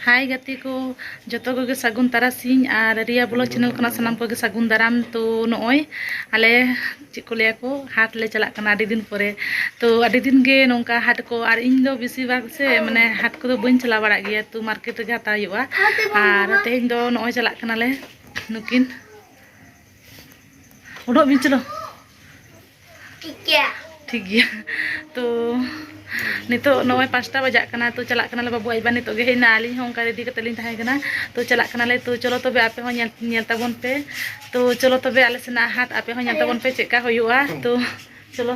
ᱦᱟᱭ ᱜᱟᱛᱮ ᱠᱚ ᱡᱚᱛᱚ ᱠᱚᱜᱮ ᱥᱟᱹᱜᱩᱱ ᱛᱟᱨᱟᱥᱤᱧ ᱟᱨ ᱨᱤᱭᱟ ᱵᱞᱚᱜ ᱪᱮᱱᱮᱞ ᱠᱷᱚᱱᱟᱜ ᱥᱟᱱᱟᱢ ᱠᱚᱜᱮ ᱥᱟᱹᱜᱩᱱ ᱫᱟᱨᱟᱢ ᱛᱚ ᱱᱚᱜᱼᱚᱭ ᱟᱞᱮ ᱪᱮᱫ ᱠᱚ ᱞᱟᱹᱭᱟ ᱠᱚ ᱦᱟᱴ ᱞᱮ ᱪᱟᱞᱟᱜ ᱠᱟᱱᱟ ᱟᱹᱰᱤ ᱫᱤᱱ ᱯᱚᱨᱮ ᱛᱚ ᱟᱹᱰᱤ ᱫᱤᱱ ᱜᱮ ᱱᱚᱝᱠᱟ ᱦᱟᱴ ᱠᱚ ᱟᱨ ᱤᱧ ᱫᱚ ᱵᱮᱥᱤᱨ ᱵᱷᱟᱜᱽ ᱥᱮ ᱢᱟᱱᱮ ᱦᱟᱴ ᱠᱚᱫᱚ ᱵᱟᱹᱧ ᱪᱟᱞᱟᱣ ᱵᱟᱲᱟᱜ ᱜᱮᱭᱟ ᱛᱚ ᱢᱟᱨᱠᱮᱴ ᱨᱮᱜᱮ ᱦᱟᱛᱟᱣ ᱦᱩᱭᱩᱜᱼᱟ ᱟᱨ ᱛᱮᱦᱮᱧ ᱫᱚ ᱱᱚᱜᱼᱚᱭ ᱪᱟᱞᱟᱜ ᱠᱟᱱᱟᱞᱮ ᱱᱩᱠᱤᱱ ᱩᱰᱩᱠ ᱵᱤᱱ ᱪᱚᱞᱚ ᱴᱷᱤᱠ ᱜᱮᱭᱟ ᱴᱷᱤᱠ ᱜᱮᱭᱟ ᱛᱚ ᱱᱤᱛᱚᱜ ᱱᱚᱜᱼᱚᱭ ᱯᱟᱸᱪᱴᱟ ᱵᱟᱡᱟᱜ ᱠᱟᱱᱟ ᱛᱚ ᱪᱟᱞᱟᱜ ᱠᱟᱱᱟᱞᱮ ᱵᱟᱹᱵᱩ ᱟᱡᱵᱟ ᱱᱤᱛᱚᱜ ᱜᱮ ᱦᱮᱡ ᱮᱱᱟ ᱟᱹᱞᱤᱧ ᱦᱚᱸ ᱚᱱᱠᱟ ᱨᱮᱰᱤ ᱠᱟᱛᱮᱫ ᱞᱤᱧ ᱛᱟᱦᱮᱸ ᱠᱟᱱᱟ ᱛᱚ ᱪᱟᱞᱟᱜ ᱠᱟᱱᱟᱞᱮ ᱛᱚ ᱪᱚᱞᱚ ᱛᱚᱵᱮ ᱟᱯᱮ ᱦᱚᱸ ᱧᱮᱞ ᱧᱮᱞ ᱛᱟᱵᱚᱱ ᱯᱮ ᱛᱚ ᱪᱚᱞᱚ ᱛᱚᱵᱮ ᱟᱞᱮ ᱥᱮᱱᱟᱜ ᱦᱟᱴ ᱟᱯᱮ ᱦᱚᱸ ᱧᱮᱞ ᱛᱟᱵᱚᱱ ᱯᱮ ᱪᱮᱫᱠᱟ ᱦᱩᱭᱩᱜᱼᱟ ᱛᱚ ᱪᱚᱞᱚ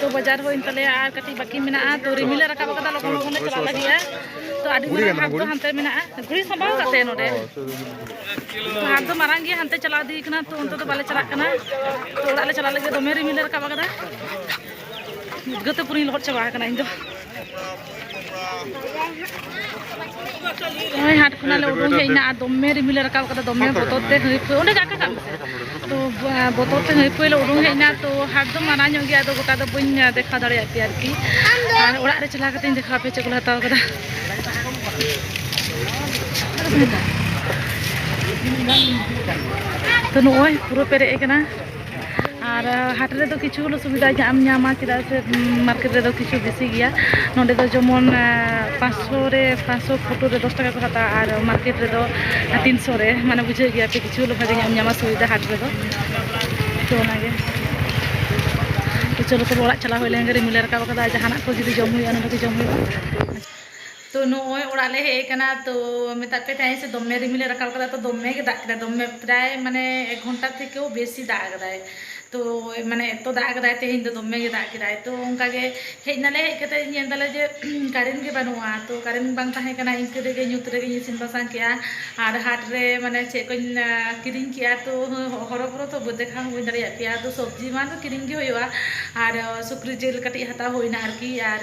ᱛᱚ ᱵᱟᱡᱟᱨ ᱦᱩᱭᱮᱱ ᱛᱟᱞᱮᱭᱟ ᱟᱨ ᱠᱟᱹᱴᱤᱡ ᱵᱟᱹᱠᱤ ᱢᱮᱱᱟᱜᱼᱟ ᱛᱚ ᱨᱤᱢᱤᱞ ᱞᱮ ᱨᱟᱠᱟᱵ ᱟᱠᱟᱫᱟ ᱞᱚᱜᱚᱱ ᱞᱚᱜᱚᱱ ᱞᱮ ᱪᱟᱞᱟᱜ ᱞᱟᱹᱜᱤᱫᱼᱟ ᱛᱚ ᱟᱹᱰᱤ ᱢᱟᱨᱟᱝ ᱦᱟᱴ ᱫᱚ ᱦᱟᱱᱛᱮ ᱢᱮᱱᱟᱜᱼᱟ ᱜᱷᱩᱲᱤ ᱥᱟᱢᱵᱟᱣ ᱠᱟᱛᱮ ᱱᱚᱰᱮ ᱛᱚ ᱦᱟᱴ ᱫᱚ ᱢᱟᱨᱟᱝ ᱜᱮᱭᱟ ᱦᱟᱱᱛᱮ ᱪᱟᱞᱟᱣ ᱤᱫᱤ ᱠᱟᱱᱟ ᱛᱚ ᱚᱱᱛᱮ ᱫᱚ ᱵᱟᱞᱮ ᱪᱟᱞᱟᱜ ᱠᱟᱱᱟ ᱛᱚ ᱚᱲᱟᱜ ᱞᱮ ᱪᱟᱞᱟᱜ ᱞᱟᱹᱜᱤᱫ ᱫᱚᱢᱮ ᱨᱤᱢᱤᱞ ᱞᱮ ᱨᱟᱠᱟᱵ ᱟᱠᱟᱫᱟ ᱩᱫᱽᱜᱟᱹᱨ ᱛᱮ ᱯᱩᱨᱟᱹᱧ ᱞᱚᱦᱚᱫ ᱪᱟᱵᱟ ᱟᱠᱟᱱᱟ ᱤᱧ ᱫᱚ ᱱᱚᱜᱼᱚᱭ ᱦᱟᱴ ᱠᱷᱚᱱᱟᱜ ᱞᱮ ᱩᱰᱩᱝ ᱦᱮᱡ ᱮᱱᱟ ᱟᱨ ᱫᱚᱢᱮ ᱨᱤᱢᱤᱞ ᱨᱟᱠᱟᱵ ᱠᱟᱫᱟ ᱫᱚᱢᱮ ᱵᱚᱛᱚᱨ ᱛᱮ ᱦᱟᱹᱭᱯᱷᱟᱹ ᱚᱸᱰᱮ ᱡᱟᱠᱟ ᱠᱟᱜ ᱢᱮᱥᱮ ᱛᱚ ᱵᱚᱛᱚᱨ ᱛᱮ ᱦᱟᱹᱭᱯᱷᱟᱹ ᱞᱮ ᱩᱰᱩᱝ ᱦᱮᱡ ᱮᱱᱟ ᱛᱚ ᱦᱟᱴ ᱫᱚ ᱢᱟᱨᱟᱝ ᱧᱚᱜ ᱜᱮᱭᱟ ᱟᱫᱚ ᱜᱚᱴᱟ ᱫᱚ ᱵᱟᱹᱧ ᱫᱮᱠᱷᱟᱣ ᱫᱟᱲᱮᱭᱟᱜ ᱯᱮᱭᱟ ᱟᱨᱠᱤ ᱟᱨ ᱚᱲᱟᱜ ᱨᱮ ᱪᱟᱞᱟᱣ ᱠᱟᱛᱮᱧ ᱫᱮᱠᱷᱟᱣ ᱯᱮ ᱪᱮᱫ ᱠᱚᱞᱮ ᱦᱟᱛᱟᱣ ᱠᱟᱫᱟ ᱛᱚ ᱱᱚᱜᱼᱚᱭ ᱯᱩᱨᱟᱹ ᱯᱮᱨᱮᱡ ᱟᱠᱟᱱᱟ ᱟᱨ ᱦᱟᱴ ᱨᱮᱫᱚ ᱠᱤᱪᱷᱩ ᱜᱩᱞᱳ ᱥᱩᱵᱤᱫᱟ ᱧᱟᱢ ᱧᱟᱢᱟ ᱪᱮᱫᱟᱜ ᱥᱮ ᱢᱟᱨᱠᱮᱴ ᱨᱮᱫᱚ ᱠᱤᱪᱷᱩ ᱵᱮᱥᱤ ᱜᱮᱭᱟ ᱱᱚᱰᱮ ᱫᱚ ᱡᱮᱢᱚᱱ ᱯᱟᱸᱪᱥᱚ ᱨᱮ ᱯᱟᱸᱪᱥᱚ ᱯᱷᱳᱴᱳ ᱨᱮ ᱫᱚᱥ ᱴᱟᱠᱟ ᱠᱚ ᱦᱟᱛᱟᱣᱟ ᱟᱨ ᱢᱟᱨᱠᱮᱴ ᱨᱮᱫᱚ ᱛᱤᱱᱥᱚ ᱨᱮ ᱢᱟᱱᱮ ᱵᱩᱡᱷᱟᱹᱜ ᱜᱮᱭᱟ ᱯᱮ ᱠᱤᱪᱷᱩ ᱜᱩᱞᱳ ᱵᱷᱟᱜᱮ ᱧᱟᱢ ᱧᱟᱢᱟ ᱥᱩᱵᱤᱫᱟ ᱦᱟᱴ ᱨᱮᱫᱚ ᱛᱚ ᱚᱱᱟᱜᱮ ᱛᱚ ᱪᱚᱞᱚ ᱛᱚᱵᱮ ᱚᱲᱟᱜ ᱪᱟᱞᱟᱣ ᱦᱩᱭ ᱞᱮᱱᱜᱮ ᱨᱤᱢᱤᱞᱮ ᱨᱟᱠᱟᱵ ᱠᱟᱫᱟ ᱡᱟᱦᱟᱱᱟᱜ ᱠᱚ ᱡᱩᱫᱤ ᱡᱚᱢ ᱦᱩᱭᱩᱜᱼᱟ ᱱᱚᱰᱮ ᱜᱮ ᱡᱚᱢ ᱦᱩᱭᱩᱜᱼᱟ ᱛᱚ ᱱᱚᱜᱼᱚᱭ ᱚᱲᱟᱜ ᱞᱮ ᱦᱮᱡ ᱟᱠᱟᱱᱟ ᱛᱚ ᱢᱮᱛᱟᱜ ᱯᱮ ᱛᱟᱦᱮᱸ ᱥᱮ ᱫᱚᱢᱮ ᱨᱤᱢᱤᱞᱮ ᱨᱟᱠᱟᱵ ᱟᱠᱟᱫᱟ ᱛᱚ ᱫᱚᱢᱮ ᱜᱮ ᱫᱟᱜ ᱠᱮᱫᱟᱭ ᱫᱚᱢᱮ ᱯᱨᱟᱭ ᱢᱟᱱᱮ ᱮᱠ ᱜᱷᱚᱱᱴᱟ ᱛᱷᱮᱠᱮᱣ ᱵᱮᱥᱤ ᱫᱟᱜ ᱟᱠᱟᱫᱟᱭ ᱛᱚ ᱢᱟᱱᱮ ᱮᱛᱚ ᱫᱟᱜ ᱟᱠᱟᱫᱟᱭ ᱛᱮᱦᱮᱧ ᱫᱚ ᱫᱚᱢᱮ ᱜᱮ ᱫᱟᱜ ᱠᱮᱫᱟᱭ ᱛᱚ ᱚᱱᱠᱟ ᱜᱮ ᱦᱮᱡ ᱱᱟᱞᱮ ᱦᱮᱡ ᱠᱟᱛᱮ ᱧᱮᱞ ᱫᱟᱞᱮ ᱡᱮ ᱠᱟᱨᱮᱱᱴ ᱜᱮ ᱵᱟᱹᱱᱩᱜᱼᱟ ᱛᱚ ᱠᱟᱨᱮᱱᱴ ᱵᱟᱝ ᱛᱟᱦᱮᱸ ᱠᱟᱱᱟ ᱤᱱᱠᱟᱹ ᱨᱮᱜᱮ ᱧᱩᱛ ᱨᱮᱜᱮᱧ ᱤᱥᱤᱱ ᱵᱟᱥᱟᱝ ᱠᱮᱫᱼᱟ ᱟᱨ ᱦᱟᱴ ᱨᱮ ᱢᱟᱱᱮ ᱪᱮᱫ ᱠᱚᱧ ᱠᱤᱨᱤᱧ ᱠᱮᱫᱼᱟ ᱛᱚ ᱦᱚᱨᱚ ᱵᱚᱨᱚ ᱛᱚ ᱫᱮᱠᱷᱟᱣ ᱦᱚᱸ ᱵᱟᱹᱧ ᱫᱟᱲᱮᱭᱟᱜ ᱯᱮᱭᱟ ᱟᱫᱚ ᱥᱚᱵᱽᱡᱤ ᱢᱟ ᱫᱚ ᱠᱤᱨᱤᱧ ᱜᱮ ᱦᱩᱭᱩᱜᱼᱟ ᱟᱨ ᱥᱩᱠᱨᱤ ᱡᱤᱞ ᱠᱟᱹᱴᱤᱡ ᱦᱟᱛᱟᱣ ᱦᱩᱭᱱᱟ ᱟᱨᱠᱤ ᱟᱨ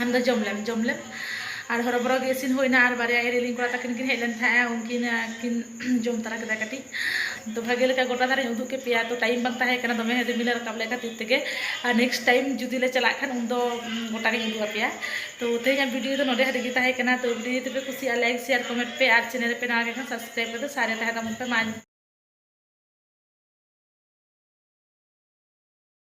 ᱟᱢ ᱫᱚ ᱡᱚᱢ ᱞᱮᱢ ᱡᱚᱢ ᱞᱮᱢ ᱟᱨ ᱦᱚᱨᱚ ᱵᱚᱨᱚ ᱜᱮ ᱤᱥᱤᱱ ᱦᱩᱭᱱᱟ ᱟᱨ ᱵᱟᱨᱭᱟ ᱤᱨᱤᱞᱤᱧ ᱠᱚᱲᱟ ᱛᱟᱹᱠᱤᱱ ᱠᱤᱱ ᱦᱮᱡ ᱞᱮᱱ ᱛᱟᱦᱮᱸᱜᱼᱟ ᱩᱱᱠᱤᱱ ᱠᱤᱱ ᱡᱚᱢ ᱛᱟᱨᱟ ᱠᱮᱫᱟ ᱠᱟᱹᱴᱤᱡ ᱛᱚ ᱵᱷᱟᱜᱮ ᱞᱮᱠᱟ ᱜᱚᱴᱟ ᱫᱷᱟᱨᱮᱧ ᱩᱫᱩᱜ ᱠᱮᱫ ᱯᱮᱭᱟ ᱛᱚ ᱴᱟᱭᱤᱢ ᱵᱟᱝ ᱛᱟᱦᱮᱸ ᱠᱟᱱᱟ ᱫᱚᱢᱮ ᱨᱤᱢᱤᱞᱮ ᱨᱟᱠᱟᱵ ᱞᱮᱫ ᱠᱷᱟᱹᱛᱤᱨ ᱛᱮᱜᱮ ᱟᱨ ᱱᱮᱠᱥᱴ ᱴᱟᱭᱤᱢ ᱡᱩᱫᱤ ᱞᱮ ᱪᱟᱞᱟᱜ ᱠᱷᱟᱱ ᱩᱱᱫᱚ ᱜᱚᱴᱟ ᱜᱤᱧ ᱩᱫᱩᱜ ᱟᱯᱮᱭᱟ ᱛᱚ ᱛᱮᱦᱮᱧᱟᱜ ᱵᱷᱤᱰᱤᱭᱳ ᱫᱚ ᱱᱚᱰᱮ ᱦᱟᱹᱨᱤᱡ ᱜᱮ ᱛᱟᱦᱮᱸ ᱠᱟᱱᱟ ᱛᱚ ᱵᱷᱤᱰᱤᱭᱳ ᱡᱩᱫᱤ ᱯᱮ ᱠᱩᱥᱤᱭᱟᱜᱼᱟ ᱞᱟᱭᱤᱠ ᱥᱮᱭᱟᱨ ᱠᱚᱢᱮᱱᱴ ᱯᱮ ᱟᱨ ᱪᱮᱱᱮᱞ ᱨᱮᱯᱮ ᱱᱟᱣᱟ ᱜᱮ ᱠᱷᱟᱱ ᱥᱟᱵᱥᱠᱨᱟᱭᱤᱵ ᱠᱟᱛᱮ ᱥᱟᱨᱮ ᱛᱟᱦᱮᱸ ᱛᱟᱵᱚᱱ ᱯᱮ ᱢᱟ